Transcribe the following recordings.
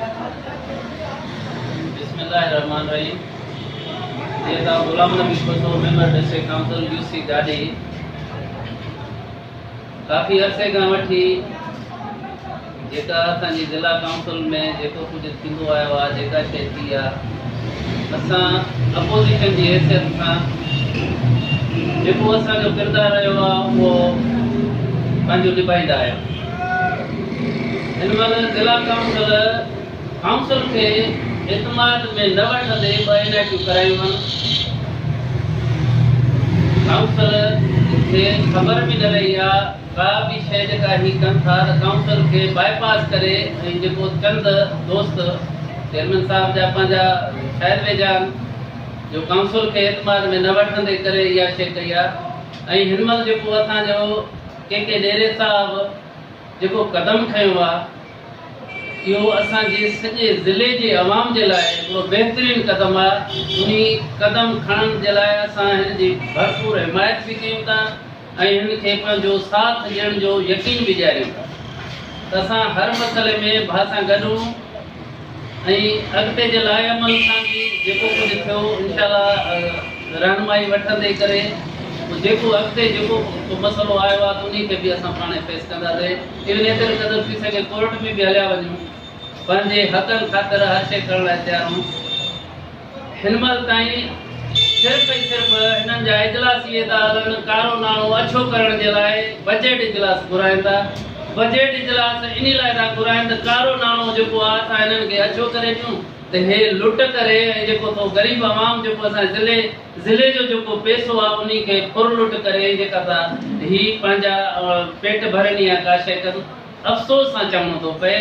بسم الله الرحمٰن الرحيم جيئن ته Ghulam Nabi Bhutto member district council U C ڏاڏي ڪافي عرصي کان وٺي جيڪا اسان جي ضلع ڪائونسل ۾ جيڪو ڪجهه ٿيندو آيو آهي جيڪا شيء ٿي آهي اسان اپوزيشن جي حيثيت سان جيڪو اسان جو ڪردار رهيو آهي اهو پنهنجو نڀائيندا آيا هن مهل ضلع ڪائونسل ڪائونسل کي اعتماد ۾ نه وٺندي ٻه اين آء ٽيون ڪرايون هن ڪائونسل کي خبر به نه رهي آ ڪا به شئي جيڪا هي ڪن ٿا ته ڪائونسل کي باء پاس ڪري ۽ جيڪو چند دوست چيئرمين صاحب جا پنهنجا شايد ويجهان جو ڪائونسل کي اعتماد ۾ نه وٺندي ڪري اها شئي ڪئي آ ۽ هن مهل جيڪو اسان جو ڪي ڪي ڏيري صاحب جيڪو قدم کنيو آ اهو اسان جي سڄي ضلعي جي عوام جي لاء هڪڙو بهترين قدم آ انهي قدم کڻڻ جي لاء اسان هن جي ڀرپور حمايت به ڪيون ٿا ۽ هن کي پنهنجو ساٿ ڏيڻ جو يقين به ڏياريون ٿا ته اسان هر مسئلي ۾ ڀا سان گڏ هون. ۽ اڳتي جي لائحعمل سان به جيڪو ڪجهه ٿيو انشاء الله رهنمائي وٺندي ڪري جيڪو اڳتي جيڪو ڪو مسئلو آيو آهي ته انهي کي به اسان پاڻهي فيس ڪنداسين ايون ايتري قدر ٿي سگهي ڪورٽ ۾ به هليا وڃون پنهنجي حقن خاطر هر شيء ڪرڻ لاء تيار آهيون. هن مهل تائين صرف ۽ صرف هنن جا اجلاسي ادارن ڪارو ناڻو اڇو ڪرڻ جي لاء بجيٽ اجلاس گهرائين ٿا. بجيٽ اجلاس انهي لاء ٿا گهرائين ته ڪارو ناڻو جيڪو آ سا هنن کي اڇو ڪري ڏيون ته هي لٽ ڪري ۽ جيڪو ٿو غريب عوام جيڪو اسان جي ضلعي ضلعي جو جيڪو پئسو آ انهي کي ڦر لٽ ڪري ۽ جيڪا سا هي پنهنجا پيٽ ڀرن يا ڪا شيء ڪن. افسوس سان چوڻو ٿو پئي.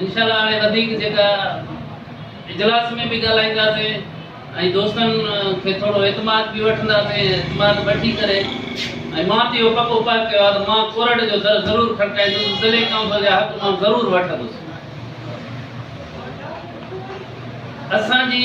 انشاء الله هاڻي وڌيڪ جيڪا اجلاس ۾ به ڳالهائينداسين ۽ دوستن کي ٿورو اعتماد به وٺنداسين اعتماد وٺي ڪري ۽ مان ته اهو پڪو پهه ڪيو آهي ته مان ڪورٽ جو در ضرور کڙڪائيندس ضلعي ڪائونسل جا حق مان ضرور وٺندس اسان جي